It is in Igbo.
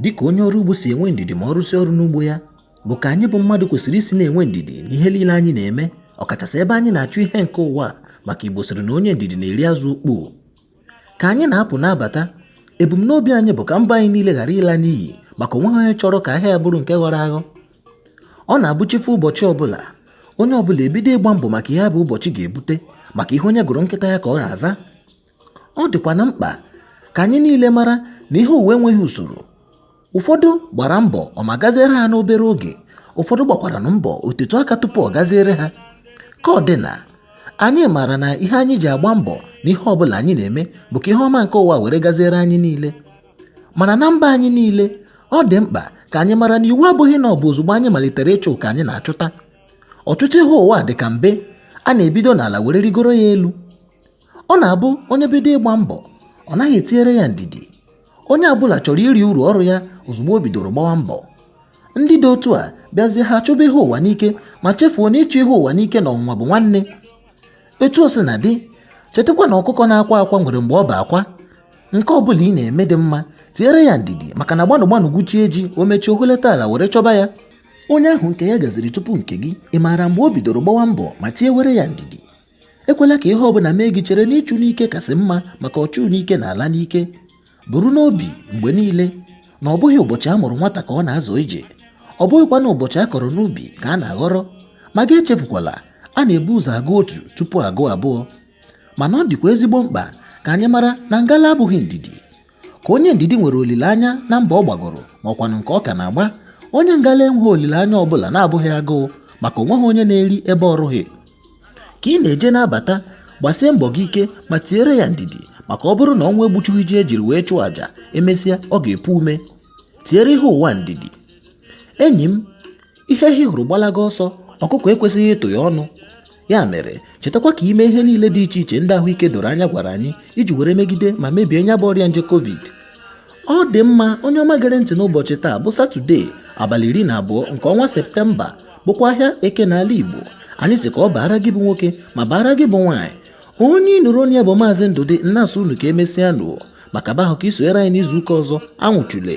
dịka onye ọrụ ugbo si enwe ndidi ma ọ rụsị ọrụ n'ugbo ya bụ ka anyị bụ mmadụ kwesịrị isi na-enwe ndidi n'ihe niile anyị na-eme ọkachasị ebe anyị na-achụ ihe nke ụwa maka igbo sịrị na onye ndidi na-eri azụ ukpoo ka anyị na-apụ na-abata ebumnobi anyị bụ ka mbọ anyị niile ghara ịla n'iyi maka o nweghị onye chọrọ ka ahịa ya bụrụ nke ghọrọ aghọ ọ na-abụ chi fo ụbọchị ọbụla onye ọbụla ebido ịgba mbọ maka ihe ọ bụ ụbọchị ga-ebute maka ihe onye gụrụ nkịta ya ka ọ na-aza ọ dịkwanụ mkpa ka anyị niile mara na ihe ụwa enweghị usoro ụfọdụ gbara mbọ ọ ma gaziere ha n'obere oge ụfọdụ gbakwaranụ mbọ o tetụ aka tupu ọ gaziere ha ka ọ dị na anyị maara na ihe anyị ji agba mbọ na ihe ọbụla anyị na-eme bụ ka ihe ọma nke ụwa were gaziere anyị niile mana na mbọ anyị niile ọ dị mkpa ka anyị mara na iwu abụghị na ọ bụ ozugbo anyị malitere ịchụ ka anyị na-achụta ọtụtụ ihe ụwa dị ka mbe a na-ebido n'ala were rigoro ya elu ọ na-abụ onye bido ịgba mbọ ọ naghị etiere ya ndidi onye ọbụla chọrọ iri uru ọrụ ya ozugbo o bidoro gbawa mbọ ndị dị otu a bịazie ha chụba ihe ụwa n'ike ma chefuo na ịchụ ihe ụwa n'ike na ọnwụnwa bụ nwanne etu o sina dị chetakwa na ọkụkọ na-akwa akwa nwere mgbe ọ bụ akwa nke ọ bụla ị na-eme dị mma tiere ya ndidi maka na gbanụ gbanụ gwuchie ji o mechie o hulata ala were chọba ya onye ahụ nke ya gaziri tupu nke gị ị maara mgbe o bidoro gbawa mbọ ma tiewere ya ndidi ekwela ka ihe ọbụla mee gị chere na ịchụ n'ike kasị mma maka ọchụ n'ike na-ala n'ike buru n'obi mgbe niile na ọ bụghị ụbọchị a mụrụ nwata ka ọ na-azọ ije ọ bụghịkwanụ ụbọchị a kọrọ n'ubi ka a na-aghọrọ ma gị echefukwala a na-ebu ụzọ agụ otu tupu a gụọ abụọ mana ọ dịkwa ezigbo mkpa ka anyị mara na ngala abụghị ndidi ka onye ndidi nwere olileanya na mbọ ọ gbagoro ma ọkwanụ nke ọ ka na-agba onye ngala enweghị olileanya ọbụla na-abụghị agụụ maka o nweghị onye na-eri ebe ọ rụghị ka ị na-eje na-abata gbasie mbọ gị ike ma tiere ya ndidi maka ọ bụrụ na ọnwụ egbuchughị ji e jiri wee chụọ àjà e mesịa ọ ga-epu ome tiere ihe ụwa ndidi enyi m ihe ehi hụrụ gbalaga ọsọ ọkụkọ ekwesịghị ịtụ ya ọnụ ya mere chetakwa ka i mee ihe niile dị iche iche ndị ahụike doro anya gwara anyị iji were megide ma mebie nya bụ ọrịa nje covid ọ dị mma onye ọma gere ntị n'ụbọchị taa bụ satọde abalị iri na abụọ nke ọnwa septemba bụkwa ahịa eke n'ala Igbo anyị sị ka ọ baara gị bụ nwoke ma baara gị bụ nwaanyị onye ị nụrụ olu ya bụ maazị Ndụdị na-asị unu ka e mesịanụ maka be ahụ ka i sonyere anyị n'izu ụka ọzọ anwụchule